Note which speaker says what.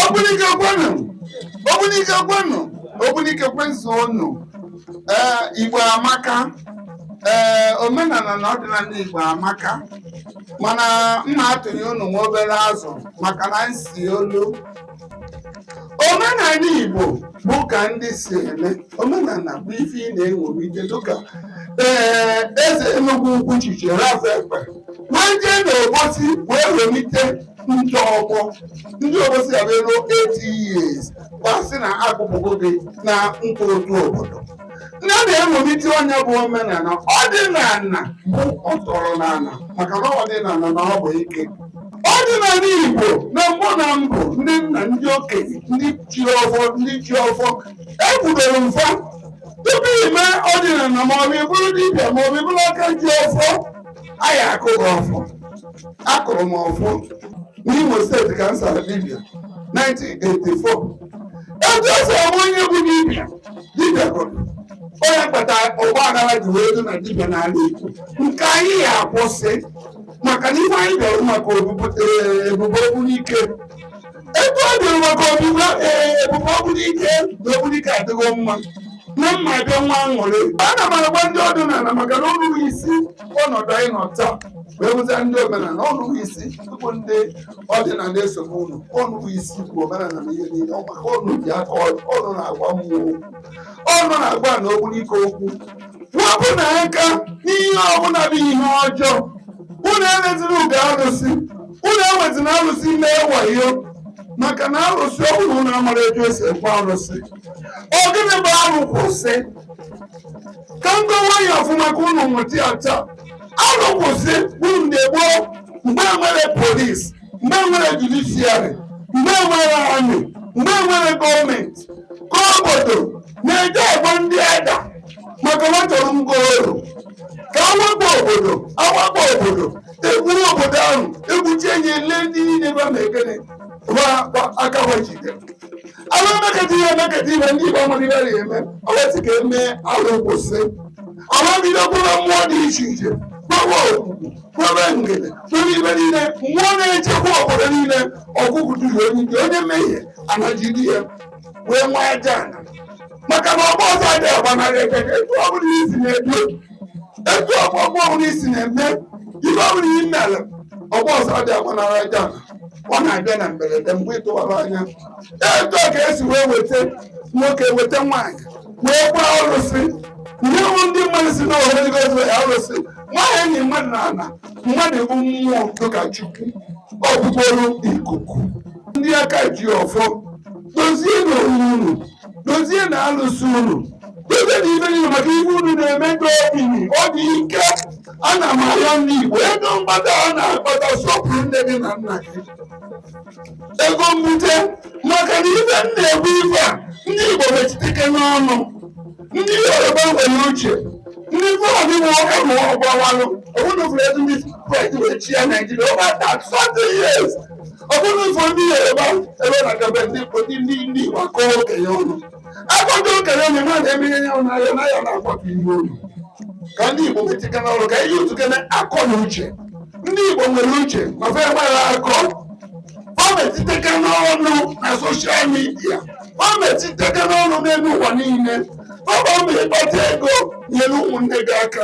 Speaker 1: Ogbunike kwenu Ogbunike kwenu Ogbunike kwezuonu ee Igbo amaka ee omenala na ọdịnala Igbo amaka mana m na-atụnye unu nwa obere azụ maka na nsi olu omenala igbo bụ ka ndị si eme omenala bụ ife ị na-ewelite dịka ee eze enugwu ukwu Chief Ralph Ekpe wee jee n'obosi wee welite ndị ọgbọ ndị obosi abịaruo 80 years gbasị na akpọpụgo gị na nkwụ ụtụ obodo ndị a na-ewelite onye bụ omenala ọdịnala bụ ọtọrọ n'ala maka na ọdịnala na ọ bụ ike ọdịnala igbo na mbụ na mbụ ndị nna ndị okenye ndị chị ọfọ ndị chị ọfọ ekwudoro mfa tupu ime ọdịnala ma ọ bụ ịbụrụ dibịa ma ọ bụ ịbụrụ aka ji ọfọ anyị akụrụ ọfọ akụrụ m ọfọ n'imo steeti ka m sara dibịa 1984 etu esi ama onye bụ dibịa dibịa gwọrọ onye kpata ụgbọ agara ji wee dị na dibịa n'ala Igbo nke anyị ya akwụsị maka na ihe anyị bịara maka obubu ee, ebube Ogbunike ebe ọ bịara maka obubu ee, ebube Ogbunike na Ogbunike adịgo mma na mma bịa nwee aṅụrị ana m agwa ndị ọdịnala maka na ọ unu bụ isi ọnọdụ anyị nọ taa wee wụzia ndị omenala ọ unu bụ isi tupu ndị ọdịnala esobe unu ọ unu bụ isi ikwu omenala na ihe niile ọ maka ọ unu ji aka ọ unu na-agwa mmụọ ọ unu na-agwa na Ogbunike okwu wepụnụ aka n'ihe ọbụla bụ ihe ọjọọ unu emeziri ugo arụsị unu ewezina arụsị mee wayo maka na arụsị ọbụla unu amara etu esi ekwe arụsị ọ gịnị bụ arụ kwụsị ka m kọwaa ya ọfụma ka unu wọta ya taa arụ kwụsị bụrụ mgbe gboo mgbe enwere polis mgbe enwere judishiari mgbe enwere amị mgbe enwere gọọmenti ka obodo na-eje egbo ndị Ada maka na chọrọ ngo oru ka awakpo obodo awakpo obodo egburu obodo ahụ egbuchi enyi ele ndị niile ba ma ekene ba ba aka ha jide ala emekata ihe emekata ihe ndị igbo amụrụ ihe eme e wee sị ka emee arụ kwụsị ala bido kwebe mmụọ dị iche iche kwebe Ogwugwu kwebe Ngene kwebe ibe niile mmụọ na-echekwa obodo niile ọgụgụ duru onye dị onye mmehie ana ejide ya wee nwee aja ana maka na ọgba ọsọ adịghị agbanarị ekeke etu ọ bụla isi na-ebi etu ọgba ọgba ọbụla isi na-eme ibe ọbụla i mere ọgba ọsọ adịghị agbanarị aja ana ọ na-abịa na mberede mgbe ịtụwara anya etu ọ ka esi wee weta nwoke weta nwaanyị wee gwa arụsị ihe bụ ndị mmadụ si na ohere gozo ya arụsị nwaanyị enyi mmadụ na ala mmadụ bụ mmụọ dịka chukwu ọ bụ bụrụ ikuku ndị aka ji ọfọ dozie na onwe unu dozie na alụsị unu dozie na ife niile maka ife unu na-eme ndị obiri ọ dị ike ana m arịọ ndị igbo ego mkpata a na-akpata sọpụrụ nne gị na nna gị ego mbute maka na ife m na-ekwu ife a ndị Igbo metụtike n'ọnụ ndị Yoruba nwere uche ndị Fulani nwe ọka ma ọ gbawanụ ọbụna ụfọdụ ebe ndị French wee chịa Naijiria over thirty years ọbụna ụfọdụ ndị Yoruba ebe na-adebe ndị ndị ndị Igbo akọ okenye ọnụ akọta okenye ọnụ ma na-eme ihe nyanwụ n'ahịa n'ahịa na-akwado ihu olu ka ndị Igbo metụta n'ọrụ ka ihe otu kene akọ na uche ndị Igbo nwere uche ma fe gbara akọ ọ metiteke n'ọnụ na soshal midia ọ metiteke n'ọnụ n'elu ụwa niile ọ bụ ome ị kpata ego nyere ụmụnne gị aka